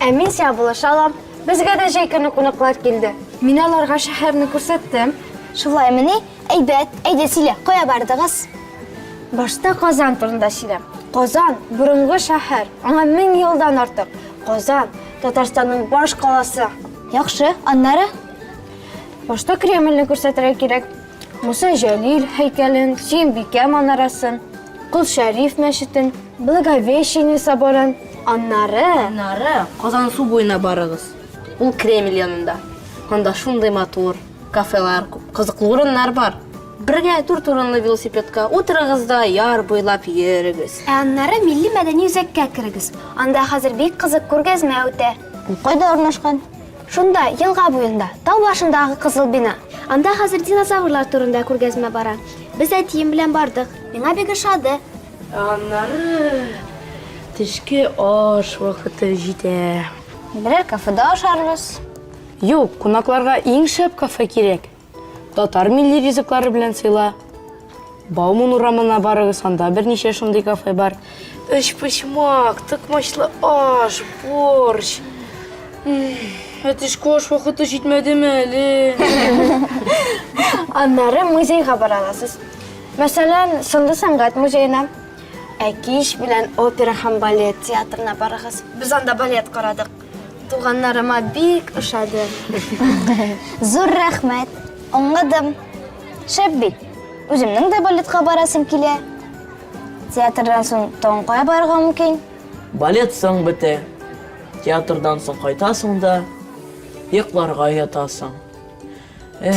Ә мин сиңа булыша алам. Безгә дә җәй көне кунаклар килде. Мин аларга шәһәрне күрсәттем. Шулаймыни? Әйбәт. Әйдә, сөйлә, кая бардыгыз? Башта Казан турында сөйләм. Казан, борынгы шәһәр, аңа мең елдан артык. Казан, Татарстанның баш каласы. Яхшы, аннары? Башта Кремльне күрсәтергә кирәк. Муса Җәлил һәйкәлен, Сөембикә манарасын, Кол Шәриф мәчетен, Благовещение соборын, аннары... Аннары Казан су буена барыгыз. Ул Кремль янында. Анда шундый матур кафелар күп, кызыклы урыннар бар. Бергә дүрт урынлы велосипедка утырыгыз да яр буйлап йөрегез. Ә аннары милли-мәдәни үзәккә керегез. Анда хәзер бик кызык күргәзмә үтә. Ул кайда урнашкан? Шунда, елга буенда, тау башындагы кызыл бина. Анда хәзер динозаврлар турында күргәзмә бара. Без әтием белән бардык. Миңа бик ошады. Аннары төшке аш вакыты җитә. Берәр кафеда ашарбыз. Юк, кунакларга иң шәп кафе кирәк. Татар милли ризыклары белән сыйла. Бауман урамына барыгыз, анда берничә шундый кафе бар. Өчпочмак, тыкмачлы аш, борщ. Әтешкә аш вакыты җитмәдеме әле? Аннары музейга бара аласыз. Мәсәлән, Сынлы сәнгать музеена. Ә кич белән опера һәм балет театрына барыгыз. Без анда балет карадык. Туганнарыма бик ошады. Зур рәхмәт. Аңладым. Шәп бит. Үземнең дә балетка барасым килә. Театрдан соң тагын кая барырга мөмкин? Балет соң бетә. Театрдан соң кайтасың да йокларга ятасың. Эх.